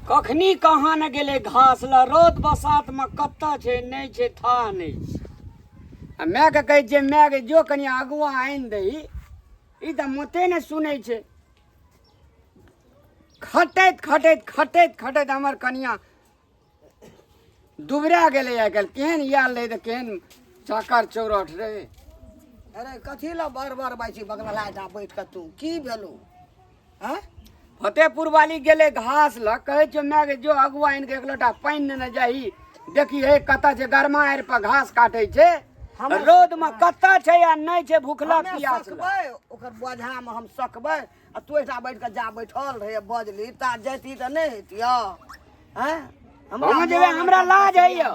कखनी कहाँ ने गेलै घास लऽ रौद बसातमे कतऽ छै नहि छै था नहि छै आ मायके कहै छियै मायके जो कनि अगुआ आनि दही ई तऽ मोते ने सुनै छै खटैत खटैत खटैत खटैत हमर कनिया दुबरा गेलै आइ काल्हि केहन याल रहै तऽ केहन चाकर चौरठ रहै अरे कथी लए बर बर बाइ छी बगला लाइट आ बैठ कऽ तू की भेलौ हँ फतेहपुर वाली गेलै घास लऽ कहै छियौ माय गे जो अगुआ आनि कऽ एक लोटा पानि नेने जाही देखी हे कतऽ छै गरमा आड़ि पर घास काटै छै हमरा- रौदमे कतऽ छै आ नहि छै भुखला हमे प्यास सकबै ओकर बोझामे हम सकबै आ तू एकटा बैठ के जा बैठल रहे बजली ता जैती त नहीं हेतिया हैं हम जेबे हमरा लाज है यो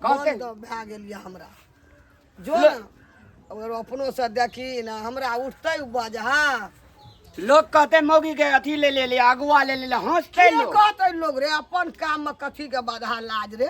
कहते तो भए गेल या हमरा जो ना अगर अपनो से देखी ना हमरा उठते बज हां लोग कहते मौगी के अथी ले ले ले अगुआ ले ले ले हंसते की लोग कहते लोग रे अपन काम में कथी के बाधा लाज रे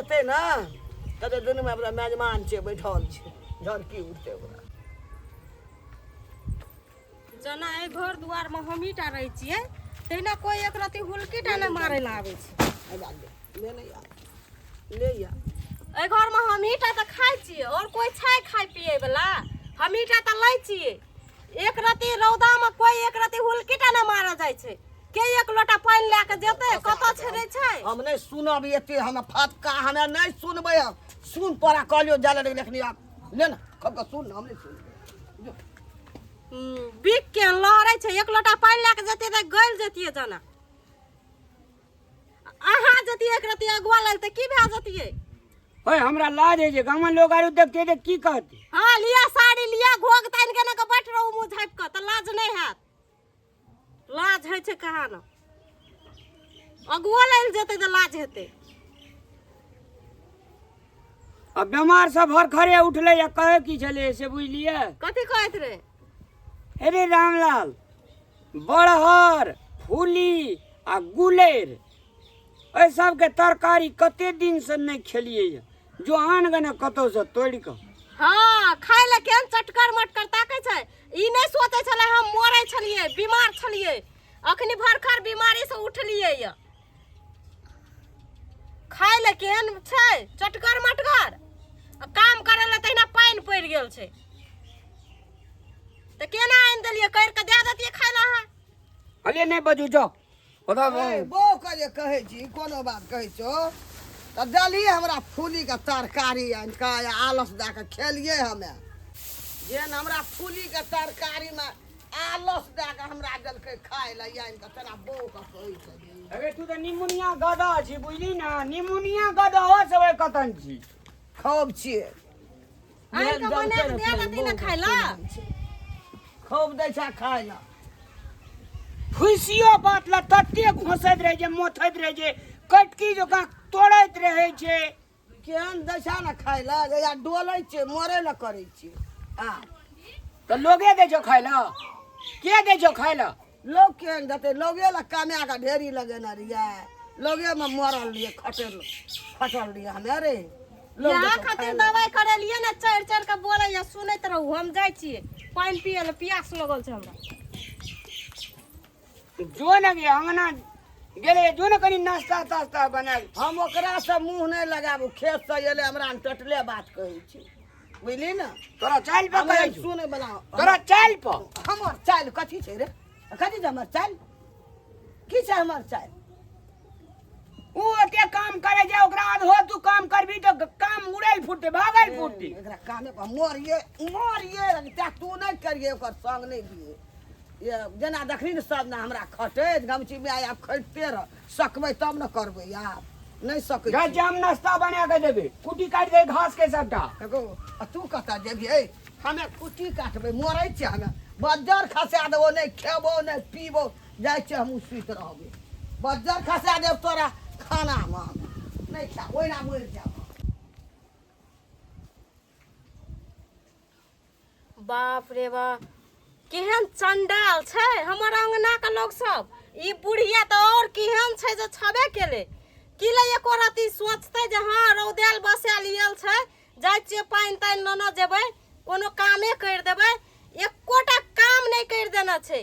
एतै ने कते दुनू में अपना मेजमान छै बैठल छै जहन की उठतै ओकरा जेना एहि घर दुआर में हमही टा रहै छियै तहिना कोई एक रति हुलकी टा नहि मारै लए आबै छै आजा ले ले ले या ले या एहि घर में हमही टा तऽ खाइ छियै आओर कोई छै खाइ पियै बला हमही टा तऽ लै छियै एक रति रौदामे कोइ एक रति हुलकीटा नहि मारल जाइ छै के एक लोटा पानि लए कऽ जेतै कतऽ छेड़ै छै हम नहि सुनब एते हम फटका हमे नहि सुनबै हम सुन पड़ा कहलियो जाले रे लेखनी आब ले ना खब का सुन हम नहीं सुन बिक के लहरै छै एक लोटा पानि लए कऽ जेतियै तऽ गलि जेतियै जना अहाँ जति एक रति अगुआ लग तऽ की भए जतियै ओए हमरा लाज है जे गामन लोग आरो देखते जे की कहते हँ लिअ साड़ी लिअ घोग तानि के के बैठ रहू मुँह झाँपि कऽ तऽ लाज नहि हैत लाज होइ छै कहाँ ने अगुओ लै लए जेतै तऽ लाज हेतै आ बीमार सब हर खड़े उठले या कहे की छले से बुझलिए कथी कहैत रहै अरे रामलाल बड़हर फूली आ गुलेर एहि सबके तरकारी कते दिन से नहि खेलियै यऽ। जो आन गने कतौ से तोड़ि कऽ हाँ खाय ले केहन चटकर मटकर ताकै छै ई नहि सोचै छलै हम मरै छलियै बीमार छलियै अखनी भरखर बीमारी से उठलियै यऽ खाय ले केहन छै चटगर मटगर आ काम करे ले तहिना पानि पड़ि गेल छै तऽ केना आनि देलियै करि कऽ दए देतियै खाय ले अहाँ अरे नहीं बजू जाओ ओदा ए, बौ के जे कहै छी कोनो बात कहै छो तऽ देलियै हमरा फूली के तरकारी आनि कऽ आ आलस दए कऽ खेलियै हमे जेहन हमरा फूली के तरकारी मे आलस दए कऽ हमरा देलकै खाय लए या तऽ तेना बौ कऽ कहै छली अरे तू तऽ निमुनिया गदा छी बुझली ना निमुनिया गदा हो सब कतन छी खूब छियै आइ के बना के दे लती ना खाय ला खूब दै छै खाय लए फुसियो बात ला तते घोसैत रहे जे मोथैत रहे जे कटकी जकाँ तोड़ैत रहे छै केहन दै छै ने खाय लए जहिया डोलै छै मरे लए करै छै आ तऽ लोगे दै छौ खाय लए के दै छौ खाय लए लोग केहन देतै लोगे लए कमाए कऽ ढेरी लगेने रहियै लोगेमे मरल रहियै खटल खटल रहियै हमे रे लोग यहाँ देतौ खाय खातिर लए। दवाई करेलिए ने चढ़ि चढ़ि के बोले या सुनैत रहू हम जाइ छियै पानि पिए लए प्यास लगल छै हमरा जो ने गे अंगना गेले जो ने कनी नाश्ता तास्ता बनाए हम ओकरा से मुंह नहीं लगाबू खेत से एले हमरा हम टटले बात कहै छी बुझली ना तोरा चाल पे हमरा कहै छौ। सुनै बला तोरा चाल पे हमर चाल कथी छै रे कथी छै हमर चाल की छै हमर चाल ओ ओते काम करे जे ओकरा आधो तू काम करबी तो काम उड़ल फुटते भागल फुटते एकरा काने पर मोरिए मोरिए ते तू नहीं करिए ओकर संग नहीं दिए ये जेना देखली ने सब ने हमरा खटे गमची में आय आप खटते रह सकबै तब न करबै यार नहीं सकै जा छी। जाम नाश्ता बना के देबे कुटी काट दे घास के सबटा एगो आ तू कतऽ जेबियै हमे कुटी काटबै मरै छियै हमे बज्जर खसा देबो नहि खेबो नहि पीबो जाइ छियै हमहूँ सुति रहबै बज्जर खसा देब तोरा खानामे हम नहि खा ओहिना मरि जायब हम। बाप रे बाप केहन चंडाल छै हमर अंगना के लोग सब ई बुढ़िया तऽ और केहन छै जे छबे केले की ले एको राति सोचते जे हाँ रौदेल बसेल इयल छै जाइ छियै पानि तानि लेने जेबै कोनो कामे करि देबै एकोटा काम नहि करि देने छै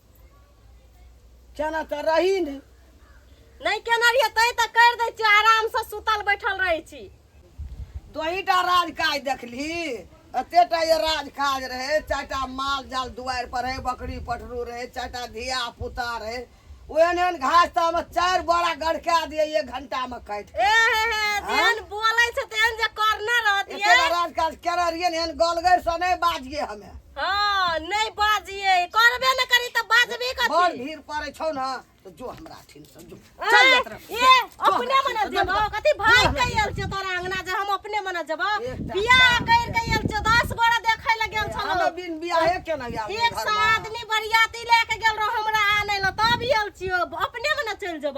केना तऽ रही ने नहि केना रहियै तै तऽ करि दै छियै आरामसँ सुतल बैठल रहै छी तोहीटा राज काज देखली एतेटा जे राज काज रहै चारिटा माल जाल दुआरि पर रहै बकरी पटरू रहै चारिटा धिया पुता रहै ओहन ओहन घास तामे चारि बोरा गड़का दिए एक घंटामे काटि ए हे हे जेहन बोलै छै तेहन जे करने रहतियै एतेटा राज काज केना रहियै ने एहन गलगैर से नहि बाजिए हमे हाँ नहीं बाजिए करबे न करी त बाजबे बड़ कथी भीड़ पड़े छौ ना तो जो हमरा अठिन से जो ए, चल जात रह ये अपने मना जब कथी भाई कइल छ तोरा अंगना जे हम अपने मना जब एकटा बियाह कइल कइल छ 10 गोरा देखै ल गेल छलो हमे बिन बियाहे के ना यार एक सौ आदमी बरियाती लेके गेल रहो हमरा आने ल तब आयल छियो अपने मना चल जब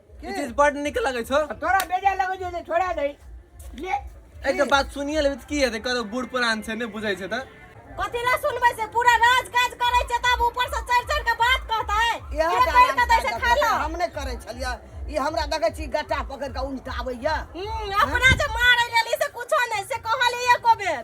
ई चीज बड नीक लगै छौ तोरा बेजा लगै छौ जे छोड़ा दे ले एक तो बात सुनिए लेबे तऽ की हेतै कतौ बूढ़ पुरान छै नहि बुझै छै तऽ कथी ला सुनबै से पूरा राज काज करै छै तब ऊपर से चढ़ चढ़ के बात कहतै इएह जे कहि के दै छै खा लो हम नहि करै छलियै ई हमरा देखै छी गट्टा पकड़ कऽ उलटाबैया हम्म, अपना जे मारै लेली से कुछो नहि से कहलियै एको बेर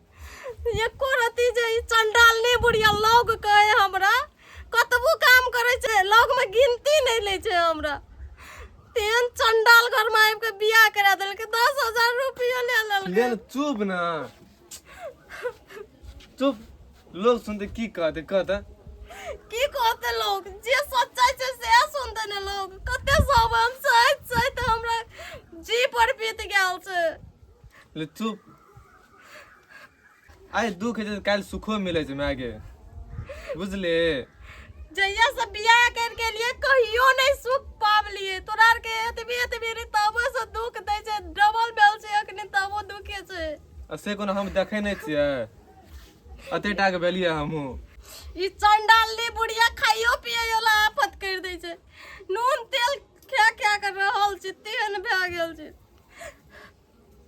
एको रति जे ई चंडालनी बुढ़िया लौग कहे हमरा कतबो काम करे छै लौग में गिनती नहीं ले छै हमरा तेन चंडाल घर में आबि के बियाह करा देल के 10000 रुपया ले लेल ले न, चुप ना चुप लोग सुनते की कहते कहते की कहते लोग जे सच्चाई छै से सुनते ने लोग कते सब हम सच सच हमरा जी पर बीत गेल छै ले चुप आइ दुख हेतै तऽ काल्हि सुखो मिलै छै मायके बुझले जहिया से बियाह कर के लिए कहियो नहीं सुख पावलिए तोरा आर के एतबी एतबी रे तबो से दुख दै छै डबल भेल छै अखने तबो दुखे छै आ से कोनो हम देखै नहि छियै अते टा के भेलियै हमहूँ ई चंडाली बुढ़िया खाइयो पिए वाला आफत कर दै छै नून तेल खा खा के रहल छै तेहन भए गेल छै